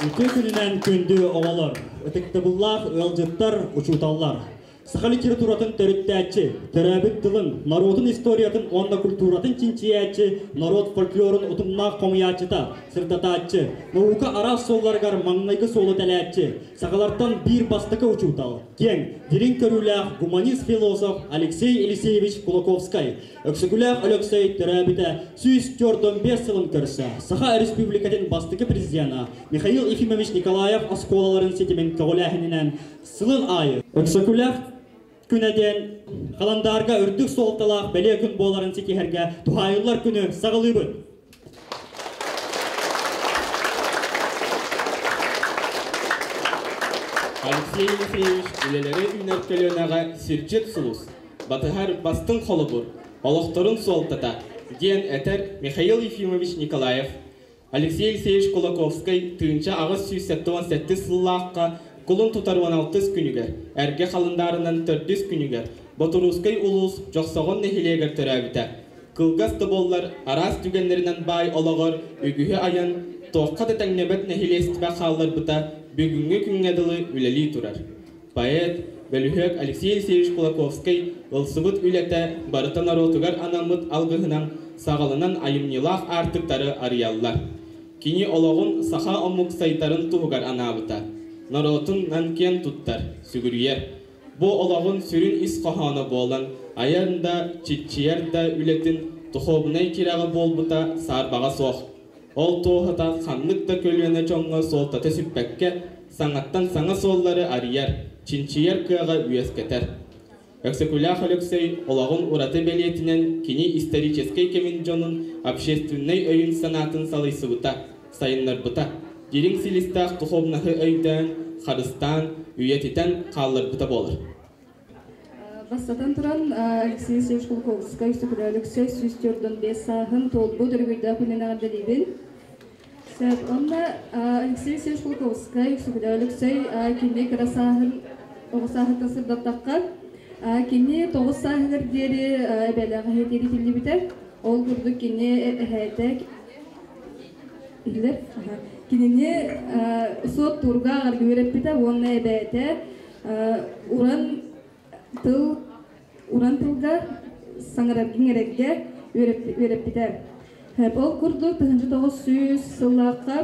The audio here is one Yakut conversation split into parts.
Үтүө күнүнэн күндү оҕолор, ытыктабыллаах ыалдьыттар, учууталлар! Саха литературатын төрүттээччи, төрөөбүт тылын, норуотун историятын уонна культуратын чинчийээччи, норуот фольклорун утумнаах хомуйааччыта, сырдатааччы, наука араас суолларыгар маҥнайгы суолу тэлээччи, сахалартан биир бастакы учуутал, киэҥ, дириҥ көрүүлээх гуманист-философ Алексей Елисеевич Кулаковскай, Өксөкүлээх Өлөксөй төрөөбүтэ сүүс түөрт уон биэс сылын көрсө Саха Өрөспүүбүлүкэтин бастакы президенэ Михаил Ефимович Николаев оскуолаларын ситимин көҕүлээһининэн сылын аайы Өксөкүлээх күнэ диэн халандаарга үрдүк суолталаах бэлиэ күн буоларын ситиһэргэ туһаайыллар күнү саҕалыыбын. Алексей Ефреевич үлэлэрэ үүнэр көлүөнэҕэ сирдьит сулус, батыһар бастыҥ холобур, олохторун суолтата, диэн этэр Михаил Ефимович Николаев. Алексей Алексеевич Кулаковскай тыынча аҕыс сүүс сэттэ уон сэттис сыллаахха кулун тутар уон алтыс күнүгэр, эргэ халындаарынан төрдүс күнүгэр Ботуруускай улуус Дьохсоҕон нэһилиэгэр төрөөбүтэ. Кылгас да буоллар, араас түгэннэринэн баай олоҕор үгүһү айан, туохха да тэҥнэбэт нэһилиэстибэ хаалларбыта бүгүҥҥү күҥҥэ дылы үлэлии турар. Поэт, бөлүһүөк Алексей Алексеевич Кулаковскай ылсыбыт үлэтэ барыта норуотугар анаммыт алгыһынан, саҕаланан айымньылаах аартыктары арыйаллар. Кини олоҕун саха омук сайдарын туһугар анаабыта, норуотун нан киэн туттар, сүгүрүйэр. Бу олоҕун сүрүн ис хоһооно буолан, айан да, чиччийэр да үлэтин духуобунай тирэҕэ буолбута саарбаҕа суох. Ол туоһута ханнык да көлүөнэ дьоҥҥо суолтата сүппэккэ, саҥаттан саҥа суоллары арыйар, чинчийэр кыаҕа үөскэтэр. Өксөкүлээх Өлөксөй олоҕун ураты бэлиэтинэн кини историческай кэмин дьонун общественнай өйүн-санаатын салайсыбыта, сайыннарбыта. Дириҥ силистээх духовнаһы өйдөөн, харыстаан, үйэтитэн хаалларбыта буолар. Бастатан туран, Алексей Алексеевич Кулаковскай, Сөкүлэ Алексей сүүс төрдөн бес сааһын туолбут өрөгүйдээх күнүн эҕэрдэлиибин. Онно Алексей Алексеевич Кулаковскай, Сөкүлэ Алексей кини кыра сааһын оҕо сааһыттан сырдаттахха, кини тоҕус сааһыгар диэри эбэлээх эһэтиэри тиллибитэ. Ол курдук кини эһээтэ Билэр кинини суоттуурга агарга үөрэппитэ уонна эбээтэ уран тыл уран тылга саҥараргын эрэргэ үөрэппитэ. Ол курдук тыһыынча тоҕус сүүс сыллаахха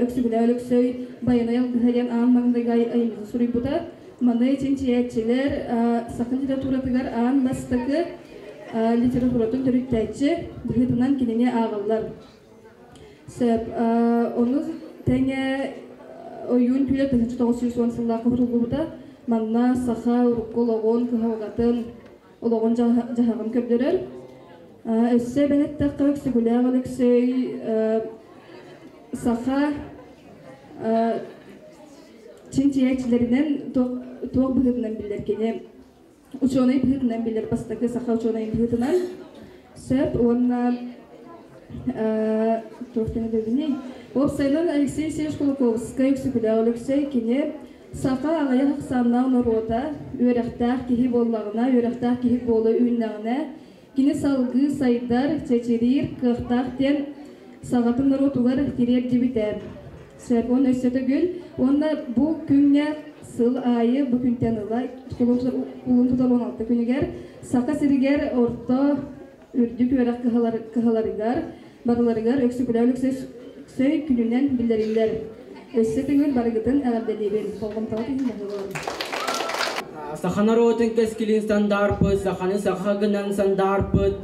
Өксүгүлээ Өлөксөй Байанай алгыһа диэн аан маҥнайгы айымньыны суруйбута. Маны чинчийээччилэр саха литературатыгар аан бастакы литературатын төрүттээччи быһыытынан кинини ааҕыллар. Сөп. Ону тэҥэ ойуун күөлэ 1909 сыллаах уһутуллубута манна саха урукку олоҕун, кыһалҕатын, олоҕун дьаһаҕын көрдөрөр. Өссө эбэн эттэххэ, Өксүгүлээх Алексей саха чинчийээччилэринэн туох быһыытынан биллэр кини учуонай быһыытынан билэр бастакы саха учуонайын быһыытынан сөп уонна туох тэһилэбиний уопсайынан Алексей Сеевич Кулаковскай Өксөкүлээх Өлөксөй кини саха аҕыйах ахсааннаах норуота үөрэхтээх киһи буоллаҕына үөрэхтээх киһи буола үүннэҕинэ Кини салгыы сайдар, чэчириир кыахтаах диэн саҕатын норуотугар тириэрдибитэ. Сөп, уон өссө төгүл уонна бу күҥҥэ сыл аайы бу күнтэн ыла кулун тутар уон алта күнүгэр Саха сиригэр орто үрдүк үөрэх кыһаларыгар барыларыгар Өксөкүлээн Өксөй күнүнэн биллэриллэр. Өссө төҥүл барыгытын эҕэрдэлиибин, болҕомтоҕут иһин баһылыам. Саха норуотун кэскилин сандаарпыт, саханы саха гынан сандаарпыт,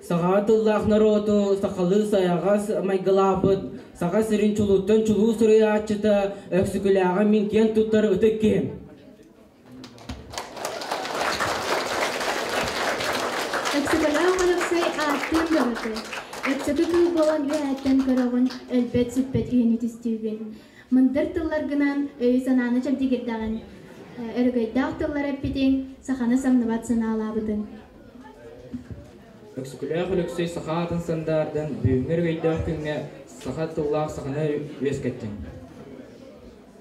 саха тыллаах норуоту сахалыы сайаҕас майгылаабыт, саха сирин чулуттан чулуу суруйааччыта Өксөкүлээҕи мин киэн туттар ытык киһим. Өксөкөлөөх Балыксай ааттыын бөҕөтө. Өксөкө кыыл буолан үөһэттэн көрөҕүн, өлбөт-сүппэт үһүнү түстүүгүн. Мындыр тылларгынан өйү-санааны чэбдигирдэҕин, өрөгөйдөөх тыллар эппитиҥ, саханы самныбат санаалаабытыҥ. Өксөкөлөөх Өлөксөй саха аатын сандаардан бүгүҥҥү өрөгөйдөөх күҥҥэ саха тыллаах саханы үөскэттиҥ.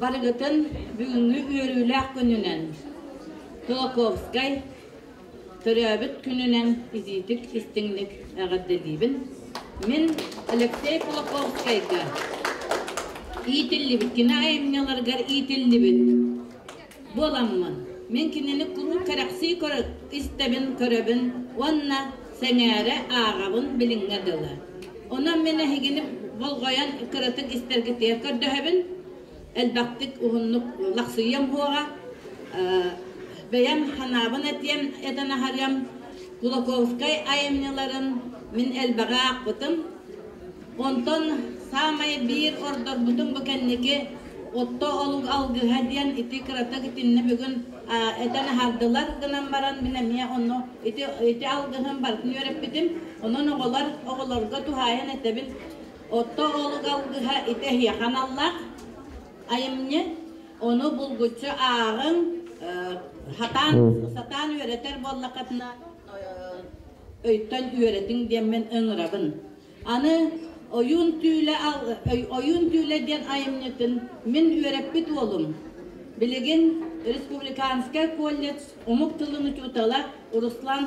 Барыгытын бүгүҥҥү үөрүүлээх күнүнэн, Толоковскай төрөөбүт күнүнэн итиитик истиҥник эҕэрдэлиибин. Мин Алексей Кулаковскайга иитиллибит кино айымньыларыгар иитиллибит буоламмын, мин кинини куруук кэрэхсии истэбин, көрөбүн уонна сэҥээрэ ааҕабын билиҥҥэ дылы. Онон мин эһигини болҕойон кыратык истэргитигэр көрдөһөбүн. Элбэхтик уһуннук лахсыйыам буоҕа. Бэйэм санаабын этиэм, этэн аһарыам. Кулаковскай айымньыларын мин элбэҕи аахпытым. Онтон саамай биир ордорбутум бу кэнники отто олук алгыһа диэн ити кыратык итиннэ бүгүн этэн аһардылар гынан баран мин эмиэ онно ити ити алгыһын барытын үөрэппитим онон оҕолор оҕолорго туһаайан этэбин отто олук алгыһа ити эһиэхэ аналлаах айымньы ону булгуччу ааҕыҥ сатаан сатаан үөрэтэр буоллаххытына өйтөн үөрэтиҥ диэммин ыҥырабын Аны Ойуун түүлэ Ойуун түүлэ диэн айымньытын мин үөрэппит уолум, билигин Республиканскай колледж омук тылын учуутала Руслан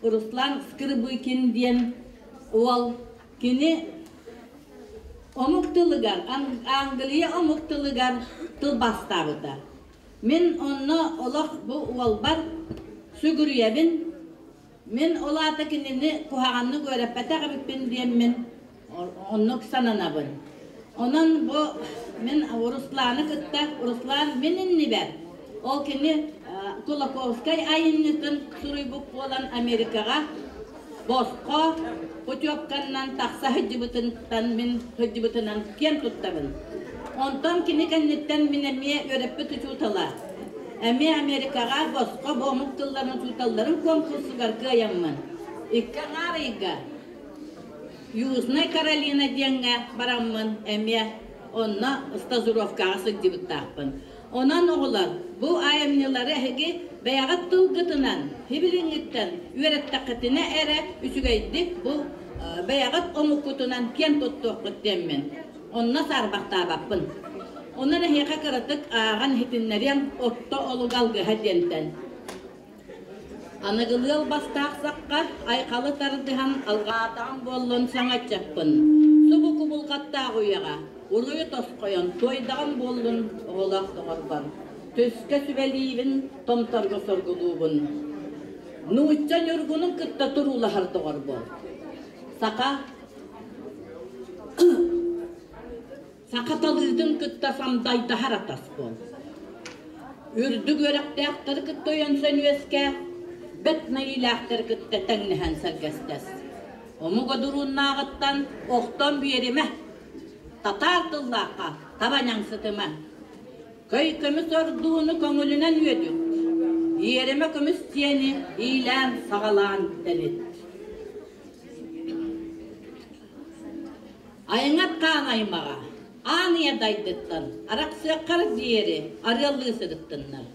Руслан Скрыбыкин диэн уол кини омук тылыгар Англия омук тылыгар тылбаастаабыта. Мин онно олох бу уолбар сүгүрүйэбин, Мин ол аата кинини куһаҕаннык үөрэппэтэх эбиппин диэммин, оннук сананабын. Онон бу мин Русланы кытта Руслан мин иннибэр, ол кини Кулаковскай айымньытын суруйбут буолан Америкаҕа босхо путевканан тахса сылдьыбытыттан мин сылдьыбытынан киэн туттабын. Онтон кини кэнниттэн мин эмиэ үөрэппит учуутала, Эмиэ Америкаҕа босхо буомук тылларын учууталларын куонкурсугар кыайаммын, икки аҥаар ыйга Южная Каролина диэҥҥэ бараммын эмиэ онно стажировкаҕа сылдьыбыттаахпын. Онон оҕолор бу айымньылары эһиги бэйэҕит тылгытынан, сибилиҥҥиттэн үөрэттэххитинэ эрэ үчүгэйдик бу бэйэҕит омуккутунан киэн туттуоххут диэммин. Онно саарбахтаабаппын. Онон эһиэхэ кыратык ааҕан иһитиннэриэм, Орто олуга алгыһа диэнтэн. Аныгылыал бастаах сахха айхалы тардыһан алҕаатаҕым буоллун саҥаччаппын. Субу кубулҕаттаах үйэҕэ уруйу тосхойон туойдаҕым буоллун оҕолоох доҕорбор. Түскэ сүбэлиибин, Томторго соргулуубун. Нуучча Ньургуну кытта туруулаһар доҕор буол. Саха Сахаталыытын кытта самдайдаһар атаспын. Үрдүк үөрэхтээхтэри кытта өйөнсөн үөскэ, бэт нэйилээхтэри кытта тэҥнэһэн сэргэстэс. Омуга дурууннааҕыттан охтон биэримэ, татаар тыллаахха табаняҥсытыма. Көй көмүс ордууну көҥүлүнэн үөдүт, иэримэ көмүс сиэни иилээн-саҕалаан тэлит. Айаҥаттаан аймаҕа аан ийэ дайдыттан арахсыаххар диэри арыаллыы сырыттыннар.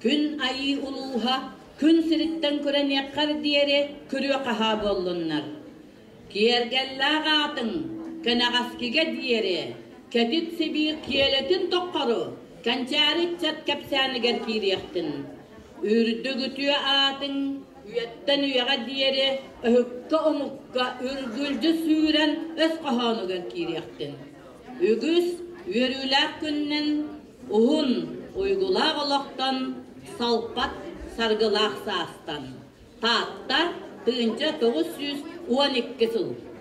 Күн айыы улууһа күн сириттэн күрэниэххэр диэри күрүө-хаһаа буоллуннар. Киэргэллээх аатыҥ кэнэҕэскигэ диэри кэтит Сибиир киэлэтин тоххору кэнчээри ыччат кэпсээнигэр киириэхтин. Үрдүк үтүө аатыҥ Үйэттэн үйэҕэ диэри өһүккэ-омукка үргүлдьү сүүрэн өс хоһоонугар киириэхтин. Үгүс үөрүүлээх күннэн уһун, уйгулаах олохтон, салпат саргылаах саастан. Таатта тыынча тоҕус сүүс уон икки сыл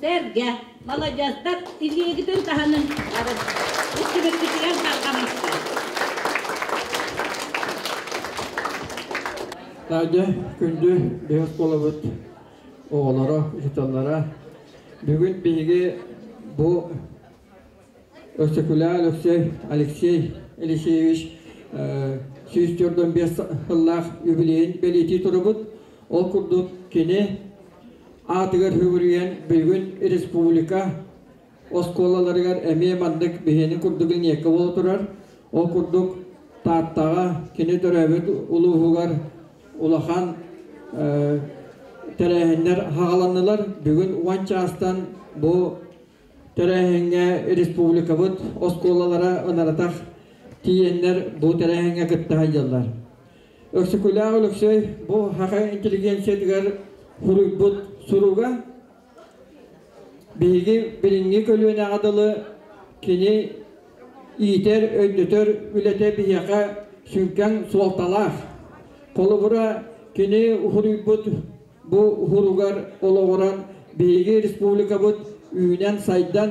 Сэргэ, маладьыастар илиигитин таһынын истибиккитигэр тарҕамастар. Таайда күндү бэйэт болобут оҕолоро, учууталлара бүгүн биһиги бу Өксөкүлээ Алексей, Алексей Елисеевич сүүс төрдөн биэс сыллаах юбилейын бэлиэтии турубут. Ол курдук кини аатыгар үбүрүйэн бүгүн республика оскуолаларыгар эмиэ маннык биһиэни курдук линейка буола турар. Ол курдук Тааттаҕа кини төрөөбүт улууһугар улахан тэрээһиннэр хаҕаланнылар. Бүгүн уон чаастан бу Тэрээһиҥҥэ республикабыт оскуолалара ынарытах тиийэннэр бу тэрээһиҥҥэ кыттыһа дьаллар. Өксөкүлээх Өлөксөй бу ХХ интеллигенциятыгар суруйбут суруга биһиги билиҥҥи көлүөнэҕэ дылы кини иитэр, өннөтөр үлэтэ биһиэхэ сүҥкэн суолталаах. Холобура, кини суруйбут бу уһуругар олоҕуран биһиги республикабыт үүнэн-сайдан,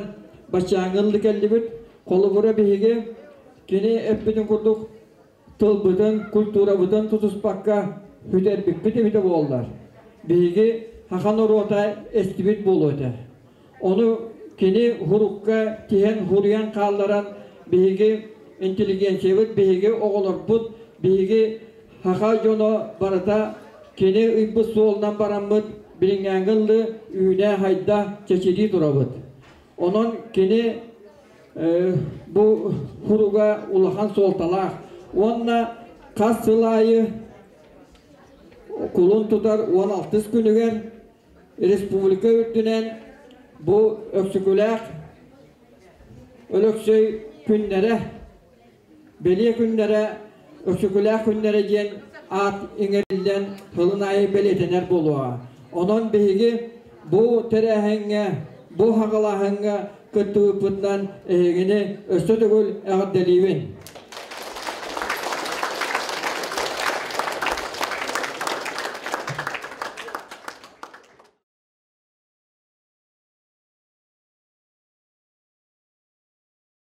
баччааҥҥыл да кэллибит. Холобура биһиги кини эппитин курдук тылбытын, культурабытын тутуспакка бүтэрбиппит эбитэ буоллар, биһиги хаха норуота эстибит буолуо этэ. Ону кини урукка тиһэн хуруйан хаалларан биһиги интеллигенциябыт, биһиги оҕолорбут, биһиги хаха дьоно барыта кини ыйбыт суолунан бараммыт билиҥҥээҥҥи ыллы үүнэ-хайда, чэчирии турабыт. Онон кини бу хуруга улахан суолталаах уонна хас сыл аайы кулун тутар уон алтыс күнүгэр Республика үрдүнэн бу Өксөкүлээх Өлөксөй күннэрэ, Бэлиэ күннэрэ, Өксөкүлээх күннэрэ диэн аат иҥэриллэн тылын аайы бэлиэтэнэр буолуоҕа. Онон биһиги бу тэрээһиҥҥэ, бу хаҕалааһыҥҥа кыттыбыппыттан эһигини өссө төгүл эҕэрдэлиибин.